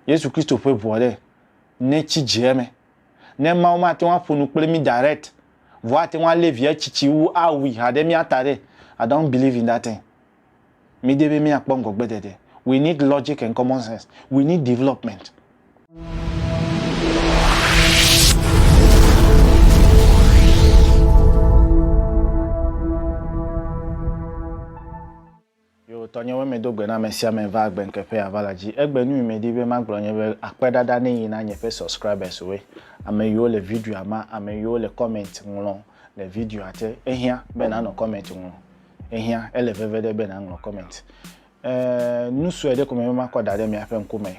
Yesu Kristo ƒe ʋua ɖe, netsi dze eme. Ne Mawu mate ŋu aƒo nu kple mí direct, vɔ ate ŋu alé via tsitsi wu awui ha ɖe mía ta ɖe, I don't believe in that thing. Mídi be míakpɔ ŋgɔgbeɖeɖe. We need logic and common sense. We need development. Yo, tɔnye weme do gbe na amesiame va agbe ŋke ƒe ava la dzi. Egbe nui medi be magblɔ nye be akpe ɖaɖa ne yi na nye ƒe subscribers woe, ame yiwo le videoa ma, ame yiwo le comment ŋlɔ le videoa te. Ehiã be nanɔ comment ŋlɔ. Ehiã, ele veve ɖe be naŋlɔ comment. E, nu sue ɖe ko me be makɔ da ɖe miaƒe ŋku me.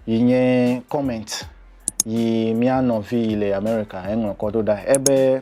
Yi nye comment yi mia nɔvi yi le America eŋlɔ kɔ ɖo ɖa. Ebe.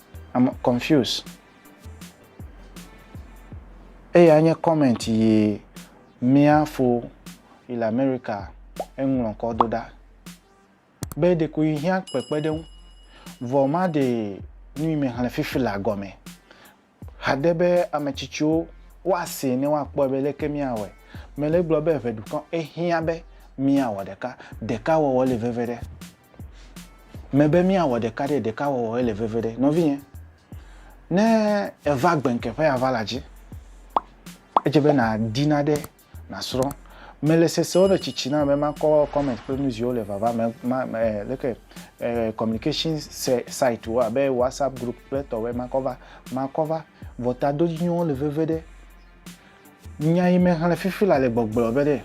I'm confused. Eya nye comment yi mia fo yi le America eŋlɔ kɔ do ɖa be ɖeko yi hiã kpekpeɖeŋu vɔ ma de nu yi me xlẽ fifi la gɔme hade be ame tsitsiwo woase ne woakpɔe be leke miawɔe. Mele gblɔ be ʋeɖukɔ ehiã be miawɔ ɖeka. Ɖeka wɔwɔ le veve ɖe. Mebe míawɔ ɖeka ɖe ɖeka wɔwɔ ele veve ɖe. Nɔvinye, ne èva gbeŋke ƒe aʋala dzi, edze be nàdi naɖe nàsrɔ̃. Mele sesewo me tsitsi na be makɔ comment kple nuziwo le vava me, ma, ma, eh, leke, eh, communication se, site wo abe WhatsApp group kple tɔwɔe makɔ va, makɔ va. Vɔ tadodzinyɔwo le veve ɖe. Nya yi mexlẽ fifi la le gbɔgblɔ be ɖe.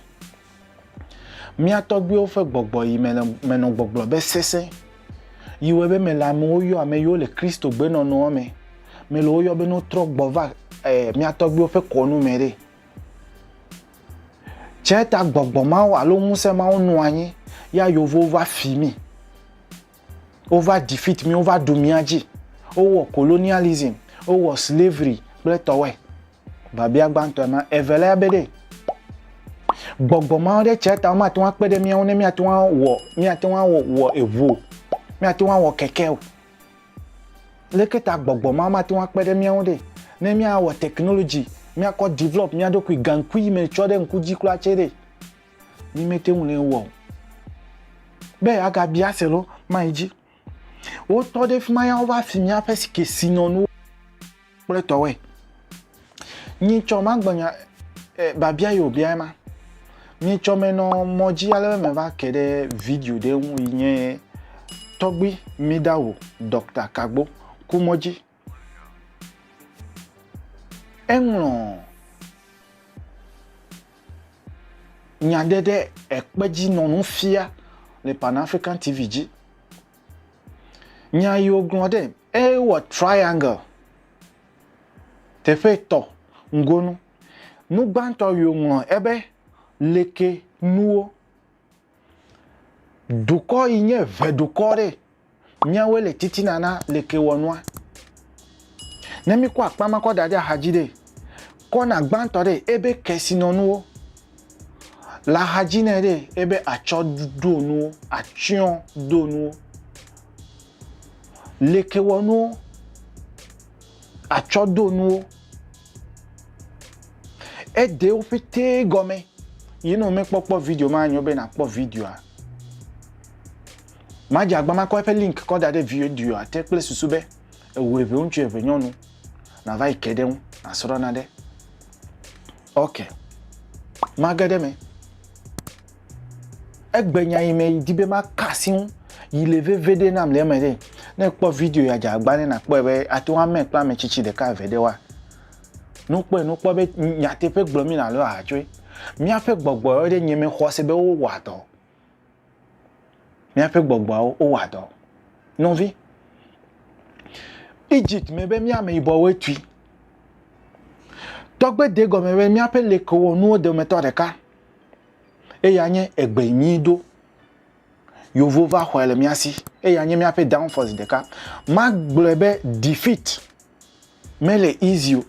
Mía tɔgbuiwo ƒe gbɔgbɔ yi me menɔ gbɔgblɔ be sesẽ, yi wɔe be mele amewo yɔ ame yiwo le Kristo gbenɔnɔa me mele wo yɔ be no trɔ gbɔ va e mía tɔgbuiwo ƒe kɔnu me ɖe. Tsɛ ta gbɔgbɔ mawo alo ŋusẽ mawo nɔ anyi ya yovowo va fi mi. Wova defeat mí, wova ɖu mía dzi, wowɔ colonialism, wowɔ slavery kple etɔwoe. Biabia gbãtɔe ma. Evelia be ɖe gbɔgbɔ ma ɖe tsia ta womate ŋu akpe ɖe mía ŋu ne míate ŋu awɔ míate ŋu awɔ wɔ eŋu o, míate ŋu awɔ keke o. Leke ta gbɔgbɔ ma mate ŋu akpe ɖe mía ŋu ɖe ne míawɔ technology, míakɔ develop mía ɖokui gaŋkui yi me tsɔ ɖe ŋku dzi kura tsɛ ɖe? Ni mete ŋu nɛ wɔ o. Be agabia se lo, mayi dzi. Wotɔ ɖe fi ma ya wova fi míaƒe kesinɔnuwo kple tɔwɔe. Nyitsɔ magbɔnya e, babia yi wòbia ema. Nyitsɔ menɔ mɔ dzi ale be meva ke ɖe video ɖe ŋu yi nye tɔgbui Midawo, Dɔkta Kagbo, ku mɔ dzi. Eŋlɔ nya ɖe ɖe ekpe dzi nɔ nu fia le Pan African TV dzi. Nya yi wògblɔ ɖe, ewɔ triangle teƒe etɔ̃ ŋgonu. Nu gbãtɔ yi wòŋlɔ ebe, leke nuwo. Dukɔ yi nye ŋɛdukɔ ɖe, míawoe le titina na lekewɔnua. Ne míkɔ akpa ma kɔ da ɖe axadzi ɖe, kɔna gbãtɔ ɖe ebe kesinɔnuwo, le axadzi nɛ ɖe ebe atsɔdonuwo, atsyɔdonuwo, lekewɔnuwo. atsɔdonuwo. Edewo ƒete gɔme. Yi ne womekpɔkpɔ video ma nyo be nakpɔ videoa. Madze agba makɔ eƒe link kɔ da ɖe videoa te kple susu be eŋu eve ŋutsu eve nyɔnu nava yi ke ɖe ŋu nasrɔ̃ na ɖe. Ok. Mage ɖe me. Egbe nya yi me yi di be ma ka si ŋu yi le veve ɖe nam le eme ɖe. Ne ekpɔ video ya dza agba ne na kpɔe be ate ŋu ame kple ame tsitsi ɖeka eve ɖe wa. Nu kpɔe nu kpɔ be nyateƒe gblɔ mi na lo aha tsoe. Míaƒe gbɔgbɔwo ɖe nye me xɔ se be wo wɔ dɔ. Míaƒe gbɔgbɔwo wo wɔ dɔ. Nɔvi, Egypt me be mía meyibɔwoe tui. Tɔgbe de gɔme be míaƒe lekewɔnuwo dometɔ ɖeka. Eya nye egbe nyui ɖo. Yevuwo va xɔe le mía si. Eya nye míaƒe downfall zi ɖeka. Magblɔe be defeat mele easy o.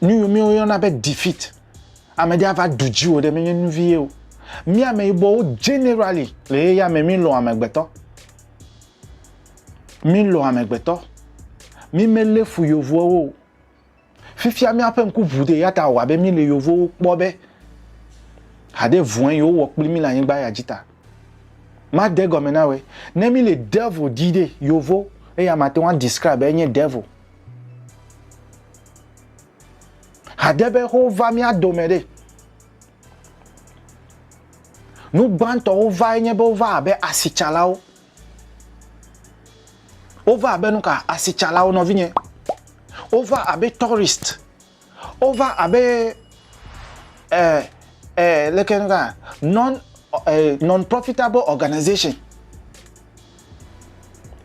Nu yiwo yɔna be defeat, ame ɖe ava ɖu dziwò ɖe menye nu vie o. Mí ameyibɔwo generally le xexea me mí lɔ̃ amegbetɔ. Mí lɔ̃ amegbetɔ. Mí me lé fu yevuawo o. Fifia míaƒe ŋku ʋu ɖi eya ta wòwɔ abe míele yevowo kpɔ be haɖe vɔ̃e yewowɔ kpli mí le anyigba ya dzi ta. Made egɔme na wòe. Ne míele devil di ɖe, yevo, eya mate ŋu adescribe be enye devil. Haɖe be wova mía dome ɖe, nu gbãtɔ wova enye be wova abe asitsalawo Wova abe nu ka? Asitsalawo, nɔvinye. Wova abe tourist. Wova abe eh, eh, leke nu ka? Non, eh, non-profitable organization.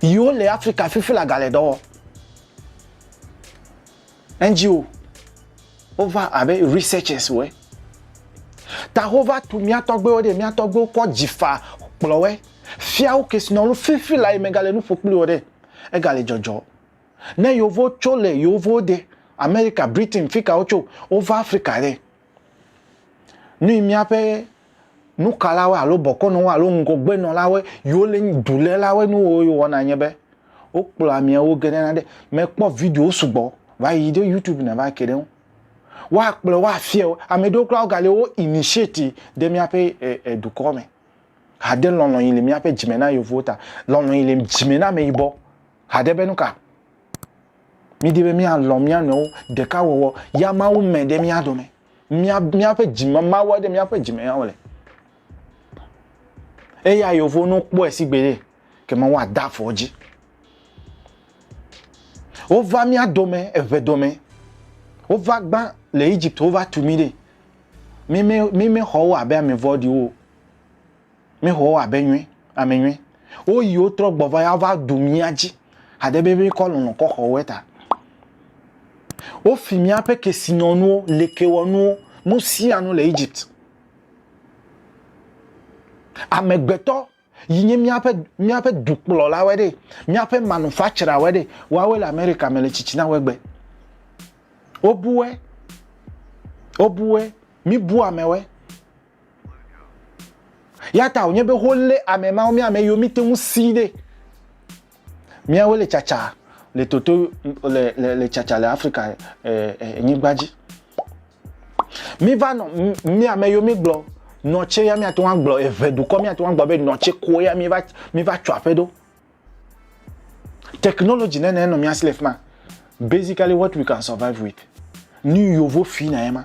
Yiwo le Afrika fifi la gale dɔ wɔ. NGO wo va abe researchers woe. Ta wo va tu mía tɔgbewo ɖe, mía tɔgbewo kɔ dzi fa kplɔ woe. Fia wo kesinɔnu fifi la yi me gale nu ƒo kpli wo ɖe. Egale dzɔdzɔ. Ne yewo vo tso le yewo vo de America, Britain, fika wo tso, wo va Africa ɖe. Nui míaƒe nukalawo alo bɔkɔnɔwo alo ŋgɔgbenɔlawo yiwo le dulélawo nu wo wɔna nye be wokplɔ ameawo ge ɖe na ɖe mekpɔ videowo sugbɔ va yi ɖe YouTube na va ke ɖe ŋu. Woakplɔ wo afia wo. Ame ɖewo kura wogali wo initiate ɖe míaƒe e dukɔ me. Hade lɔlɔ̃ yi le míaƒe dzime na yevuwo ta. Lɔlɔ̃ yi le dzime na ameyibɔ haɖe be nuka? Mídi be míalɔ̃ mía nɔewo, ɖekawɔwɔ, ya Mawu mɛ ɖe mía dome. Mía, míaƒe dzime, Mawu aɖe míaƒe dzime ya wòle. Eya yewo no kpɔe si gbeɖe, ke Mawu ada afɔ dzi. Wova mía dome eʋe dome. Wova gbã le Egypt, wova tu mí ɖe. Mímexɔ wo abe ame vɔ̃ɖiwo. Mi xɔ wo abe nyui, ame nyui. Wo yi wo trɔ gbɔ va ya va du mía dzi. Hade be mi kɔ lɔlɔ kɔ xɔ woe ta. Wo fi mía ƒe kesinɔnuwo, lekewɔnuwo, nu sia nu le Egypt. Amegbetɔ yi nye mía ƒe, mía ƒe dukplɔla wɔe ɖe, mía ƒe manufacturer wɔe ɖe, wɔawe le America me le tsitsina wɔe gbe. Wo buwe, wo buwe, mi bu amewɔe. Ya ta wònye be wolé ame mawo, mía ame yiwo míte ŋu si ɖe míawoe le tsatsa le toto le le le tsatsa le Afrika e, e, nyigba dzi. Míva nɔ mía ame yiwo mígblɔ nɔtse ya míate ŋu agblɔ eve dukɔ míate ŋu agblɔ be nɔtse koe ya míva míva tso aƒe ɖo. Technology nene nɔ mía si le fi ma. Basically what we can survive with. Nu yovo fina ye ma.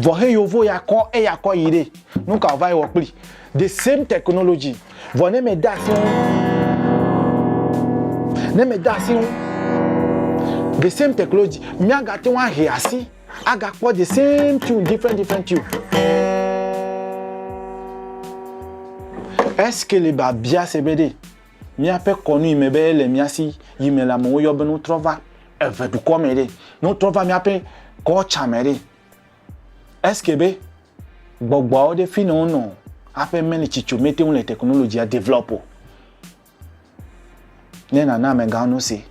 vɔ he yovo ya kɔ eya kɔ yi ɖe nuka ova yi wɔ kpli the same technology vɔ ne me da si ne me da si the same technology mi aga te wa he asi aga kpɔ the same tune different different tune Est-ce que le Babia Sebede Míaƒe kɔnu yi me be le mía si yi me la, amewo yɔ be ne wotrɔ va eve dukɔ me ɖe, ne wotrɔ va míaƒe kɔltsa me ɖe. Eske be gbɔgbɔawo ɖe fi ne wonɔ aƒe meli tsitso mete ŋu le technologia develop o. Ne nana amegãwo nu se.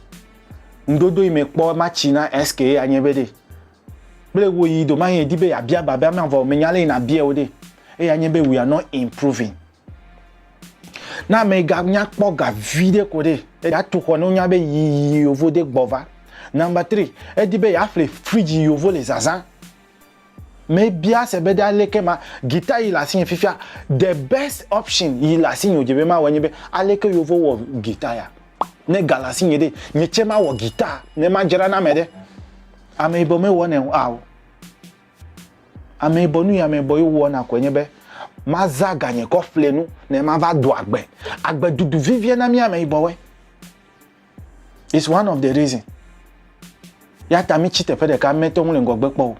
Ŋdodo yi me kpɔ ma tsi na eske ye anye be ɖe. Kple wo yi do ma yi di be abia ba be amea vɔ menya le yi na bia wo ɖe. Eya nye be we are not improving. Na ame ga nya kpɔ ga vi ɖe ko ɖe ya tu xɔ no nya be yi yovo de gbɔ va. Number three, edi be ya ƒle fridge yovo le zazã. Me bia se be ɖe aleke ma guitar yi le asi nye fifia the best option yi le asi nye dze be ma wɔ nye be aleke yovo wɔ guitar ya. Ne ga le asi nye ɖe nye tse ma wɔ guitar ne ma dzra na me ɖe. Ame yibɔ me wɔ ne o ao. Amɛbɔ nuyi amɛbɔ yi wowɔ na kɔe nye be maza ganye kɔ ƒle nu ne mava do agbe. Agbe dudu vivie na mi amɛbɔwe. It's one of the reason. Ya ta mi tsi teƒe ɖeka mɛtɔ ŋu le ŋgɔgbe kpɔ o.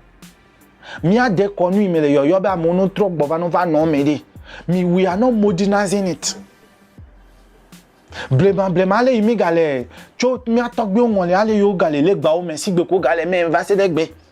Mia de kɔ nu yi me le yɔyɔ be amewo no trɔ gbɔ va no va nɔ me ɖi. Mi we are not modernizing it. Blema blema ale yi mi gale tso mia tɔgbiwo ŋɔli ale yi wo gale legbawo me sigbe ko gale mɛ va se ɖe gbe.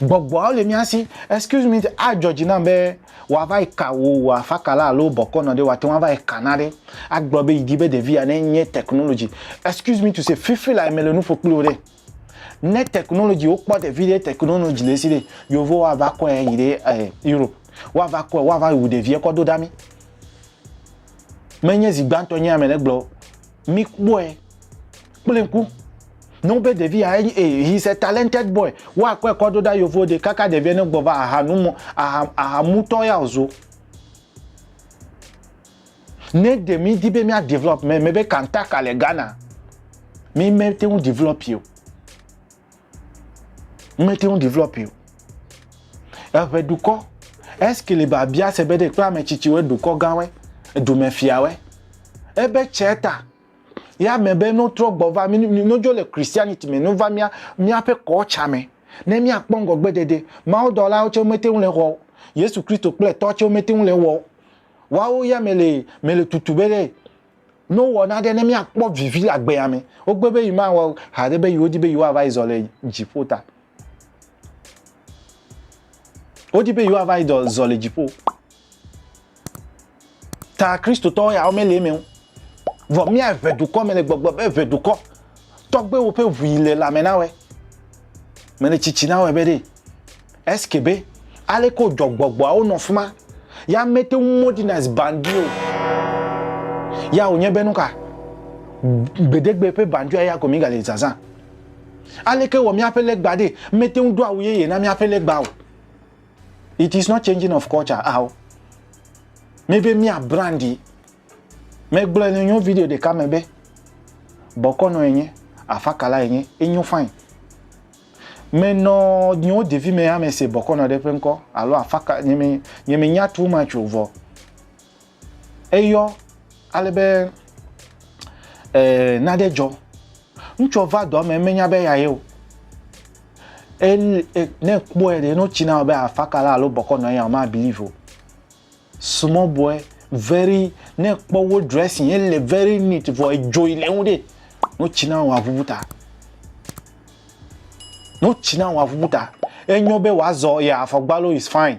Gbɔgbɔawo le mía si. Excuse me, adzɔ dzi nam be wòava yi ka wò wò afakala alo bɔkɔ nɔ ɖe wòate ŋu ava yi ka na ɖe agblɔ be yidi be ɖevi ya nenye technology. Excuse me to say, fifi lae mele nu ƒo kpli wò ɖe. Ne technology wokpɔ ɖevi ɖe technology le esi ɖe, Yevuwo ava kɔe ayi ɖe eh, Europe. Woava kɔe, woava wu ɖevia kɔ do ɖa mí. Menye zi gbãtɔ nye ame le gblɔ o. Míkpɔe. kple ŋku nɔwo be ɖevia enyi e eh, he is a talented boy woakɔe kɔ ɖo ɖa yovo ɖe kaka ɖevia ne gbɔva aha nu mo aha aha mutɔ ya ozo ne ɖe mi di be mia develop me me be kantaka le Ghana mi me te ŋu develop o me te ŋu develop o eʋe dukɔ eske le ba bia se be ɖe kple ame tsitsiwo dukɔ gãwe dumefiawe ebe tsɛ ta Ya me be no trɔ gbɔ va, no dzo le Christianity me, no va mia, mia pe kɔ cha me. Ne mia kpɔ ngɔ gbe dede, mawo dɔ la oche mete ule wɔ. Yesu Christo kple tɔ che mete ule wɔ. Wawo ya me le, me le tutu be le, no wɔ na de ne mia kpɔ vivi la gbe ya me. Ogbe be yi ma wɔ hade be yi odi be yi wa va yi zɔ le jipota. Wodi be yewoava yi dɔ zɔ le dziƒo. Ta Kristotɔwo ya womele eme o. Vɔ mía ʋe dukɔ me le gbɔgblɔ be ʋe dukɔ. Tɔgbewo ƒe ʋui le lãme na wɛ. Mele tsitsi na wɛ be ɖe. Eske be aleke wojɔ gbɔgbɔawo nɔ fima. Ya mete ŋu modi na zbandi o. Ya wònye be nuka? Gbedegbe ƒe bandia ya ko mi gale zazã. Aleke wɔ míaƒe legba ɖe mete ŋu do awu yeye na míaƒe legba o? It is not changing of culture ao. Mebe mía brandi. Megblɔe le nyo video ɖeka me be bɔkɔnɔ enye, afakala enye, enyo fine. Menɔ nyo ɖevi me hã mese bɔkɔnɔ ɖe ƒe ŋkɔ alo afaka nye me nye me nya too much o vɔ. eyɔ ale be ee, nane dzɔ. Ŋutsua va dɔa me menya be eyae o. Ele e, ne kpɔe ɖe no tsi na be afaka la alo bɔkɔ nɔ eya o ma believe o. Small boy very ne kpɔ wo dressing ele very neat vɔ edzoe le ŋu ɖe no tsi na wa vuvu ta. No tsi na wa vuvu ta. Enyo be wazɔ ya afɔgbalo is fine.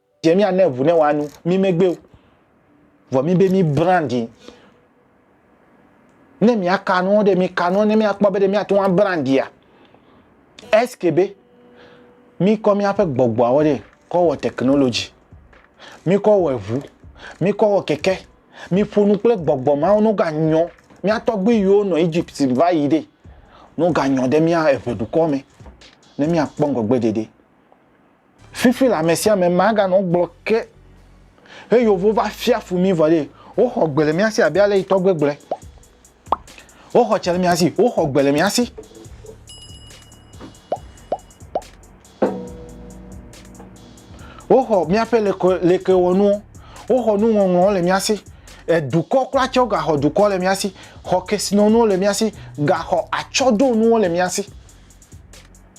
Dze mía ne ŋu ne wòa nu mí megbe o, vɔ mí be mí brandi. Ne mía ka nuɔ ɖe, mí ka nuɔ ne mía kpɔ be ɖe mía te ŋu brandia. Eske be mí kɔ mía ƒe gbɔgbɔawo ɖe kɔ wɔ technology, mí kɔ wɔ eŋu, mí kɔ wɔ keke, mí ƒo nu kple gbɔgbɔ mawo no ga nyɔ. Mía tɔgbui yiwo nɔ Egypt va yi ɖe no ga nyɔ ɖe mía eŋe ɖukɔ me ne mía kpɔ ŋgɔgbe ɖeɖe. Fifi la ame sia ame maganɔ gblɔ ke he yovo va fia fu mi vɔ ɖe woxɔ gbe le mía si abe ale yi tɔgbe gblɔe. Woxɔ tse le mía si, woxɔ gbe le mía si. Woxɔ míaƒe lekewɔnuwo, woxɔ nuŋɔŋlɔwo le mía si. Edukɔ kura tse wogaxɔ dukɔ le mía si, xɔ kesinɔnuwo le mía si, gaxɔ atsɔɖonuwo le mía si.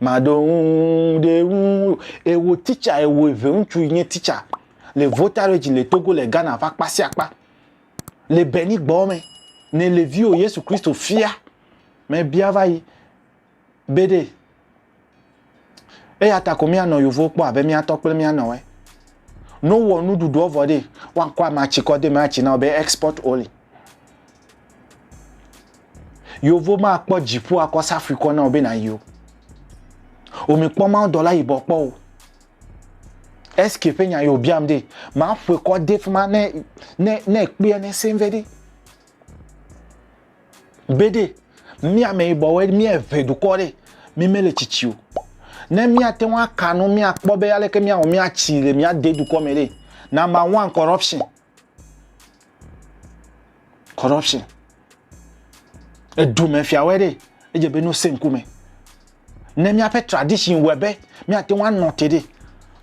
Maɖo ŋu ɖe ŋu eye wò titsa eye wò eve ŋutsu yi nye titsa le Voltaredge le Togo le Ghana ƒe akpa sia akpa le Benin gbɔ me. Ne le viwò Yesu Kristo fia mebia va yi be ɖe eya ta ko míanɔ yovo kpɔ abe míatɔ kple míanɔwɔe. Ne wowɔ nuɖuɖuɔ vɔ ɖe woakɔ amatsikɔ de me atsi na wo be export only. Yeovo ma kpɔ dziƒo akɔ safui kɔ na wò be nàyi o. Omi kpɔ mawo dɔla yibɔ kpɔ o. Eske ƒe nya yewo biam de, ma ƒoe kɔ de fima ne, ne, ne kpea ne sɛn vɛ de. Be de, mia me yibɔ wɛ, mia eve dukɔ de, mi me le tsitsi o. Ne mia te ŋua kanu, mia kpɔ be aleke mia wɔ mia tsi le mia de dukɔ me de. Na ma wan corruption. corruption edume fiawɔe ɖe edze be nosẽ ŋkume ne míaƒe tradition wɔe be míate ŋu anɔ te ɖe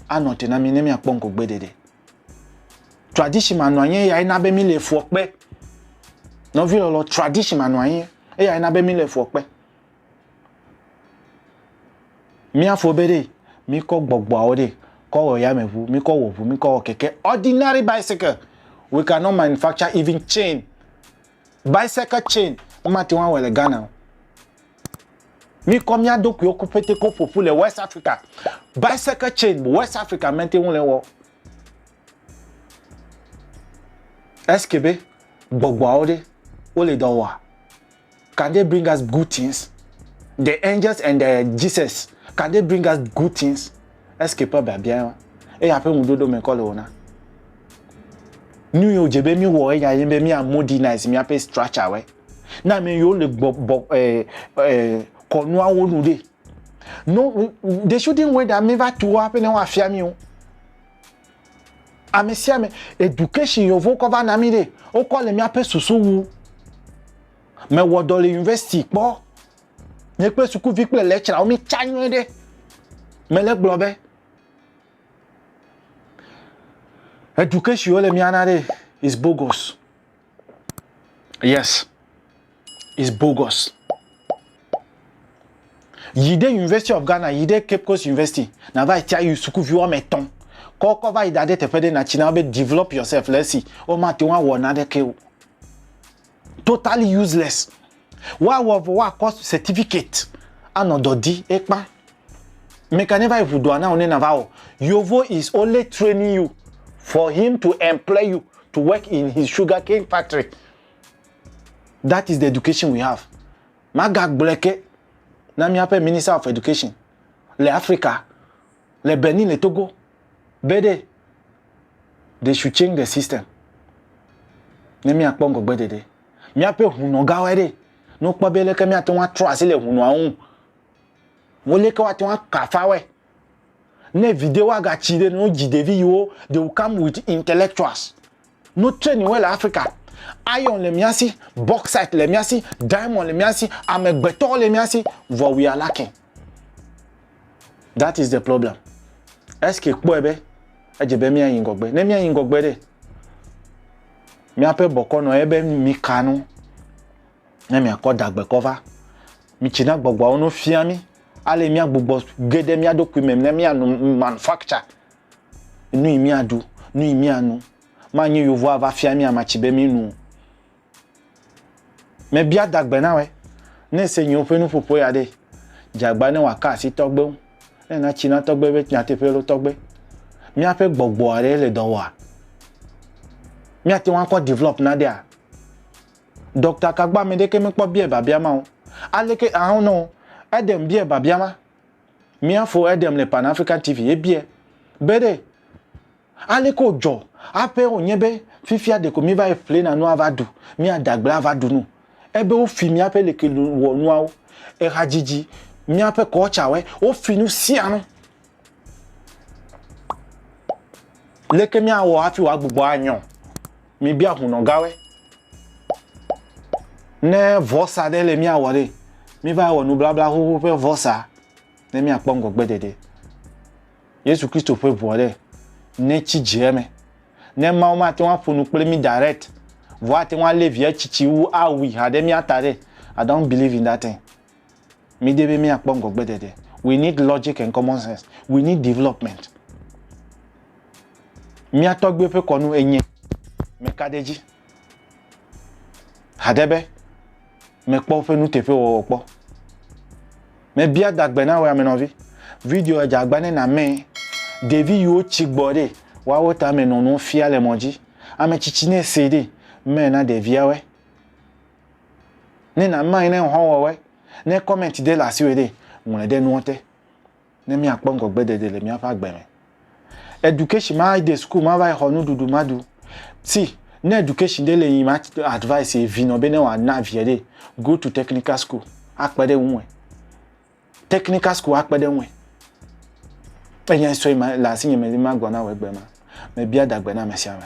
anɔ te na mí ne míakpɔ ŋgɔgbe ɖeɖe tradition manɔ anyi eyae na be míle fuɔ kpe nɔvi lɔlɔ tradition manɔ anyi eyae na be míle fuɔ kpe Míafɔ be ɖe míkɔ gbɔgbɔawo ɖe kɔ wɔ yameʋu, míkɔ wɔ ʋu, míkɔ wɔ keke, ordinary bicycle, we can not manufacture even chain, bicycle chain womate ŋu awɔe le Ghana o. Míkɔ mía ɖokuiwo ku ƒete ko ƒoƒu le West Africa, bicycle chain West Africa mete ŋu le wɔ. Est-ce que be gbɔgbɔawo ɖe wole dɔ wɔa? Can they bring us good things? The angels and the Jesus, can they bring us good things? Est-ce que ƒe biabia ye eya ƒe ŋuɖoɖo me kɔ le wona? Nu yiwo dze be míwɔ eya ye be mía modernize míaƒe structure wɛ. Na ame yiwo le gbɔ bɔ eh, eh, kɔnuawo nu ɖe. No, they shouldn't wait that míva tu woaƒe ne woafia mí o. Ame sia ame, education yi wovo kɔ va na mí ɖe, wokɔ le míaƒe susu wu. Mewɔ dɔ le university kpɔ, nye kple sukuvi kple lecturer wo mí tsa nyuie ɖe. Mele gblɔ be, education yi wole mía na ɖe is bogus. Yes, it's bogus. Yi ɖe University of Ghana, yi ɖe Cape Coast University, na va tia yi sukuvi woame etɔ̃. Kɔkɔ va yi da ɖe teƒe ɖe na tsi na be develop yourself le esi. Womate ŋu awɔ naneke o. Totally useless. Woawɔ vɔ woakɔ certificate anɔ dɔ di ekpa. Meka ne va yi ʋudɔa na wò ne nava wɔ. Yovo is only training you for him to employ you to work in his sugar cane factory. That is the education we have. Maga gblɔe ke na miaƒe minister of education le Africa, le Benin, le Togo. be ɖe they should change the system ne míakpɔ ŋgɔgbedede míaƒe hunɔgawoe ɖe ne wokpɔ be leke míate ŋu atrɔ asi le hunɔa ŋu woleke woate ŋu akafa wɔe ne videwo agatsi ɖe ne wodzi ɖevi yiwo they will come with intellectuals no train wɔe le africa iron le mía si bauxite le mía si diamond le mía si amegbetɔwo le mía si vɔ we are lacking That is the problem. Eske kpɔe be edze be míayi ŋgɔgbe. Ne míayi ŋgɔgbe ɖe, míaƒe bɔkɔ nɔ ebe mika nu ne miakɔ dagbekɔ va. Mitsina gbɔgbɔawo no fia mí ale míagbugbɔ ge ɖe mía ɖokui me ne míanu manufacture nu yi míaɖu, nu yi míanu. Manye yevu ava fia mí amatsi be mínu o. Mebia dagbe na wɛ, ne se nyiwo ƒe nuƒoƒo ya ɖe, dzagba ne wòaka asi tɔgbe ŋu, ne natsi na tɔgbe ƒe nyateƒe loo tɔgbe. Míaƒe gbɔgbɔ aɖe le dɔ wɔa? Míate ŋu akɔ develop na ɖea? Dɔkta ka gbɔ ame ɖeke mekpɔ biae biabia ma o. Aleke, ah, no, Edem biae biabia ma. Mía fo Edem le Pan African TV, ebiae be ɖe Aleke wòdzɔ aƒee wònye be fifia ɖeko míva yi ƒlena nu ava ɖu, míaɖe agble ava ɖu nu. Ebe wofi míaƒe lekewɔnuawo, ehadzidzi, míaƒe kɔltsawoe, wofi nu sia nu. Leke míawɔ hafi wòagbugbɔ anyɔ mibia hunɔgawoe? Ne vɔsa ɖe le míawɔ ɖe, míva wɔ nublabla xoxo ƒe vɔsa. ne míakpɔ ŋgɔgbedede. Yesu Kristo ƒe ʋua ɖe, netsi dze eme. Ne Mawu mate ŋu aƒo nu kple mí direct, vɔ ate ŋu alé via tsitsi wu awui ha ɖe mía ta ɖe, I don't believe in that thing. Mídi be míakpɔ ŋgɔgbedede. We need logic and common sense. We need development. Mía tɔgbuiwo ƒe kɔnu enye meka ɖe edzi haɖe be mekpɔ ƒe nuteƒewɔwɔ kpɔ. Mebia dagbe na wò amenɔvi. Video edze agba ne nàmee. Ɖevi yiwo tsi gbɔ ɖe woawo tame nɔ nuwo fia le mɔ dzi. Ame tsitsi ne see ɖe, mee na ɖeviawoe. Ne nàmee ne ŋhɔwɔwɔe. Ne kɔmɛnti ɖe le asiwò ɖe, ŋlɔe ɖe nuwo te. ne míakpɔ ŋgɔgbedede le míaƒe agbe me. Education ma de school ma va yi xɔ nuɖuɖu ma ɖu. See, ne education ɖe le yi ma advice vi nɔ be ne wòana via ɖe, go to technical school akpe ɖe ŋue. Technical school akpe ɖe ŋue. Enya sɔ yi ma le asinye me le magblɔ na wò egbe ma. Mebia dagbe na ame sia ame.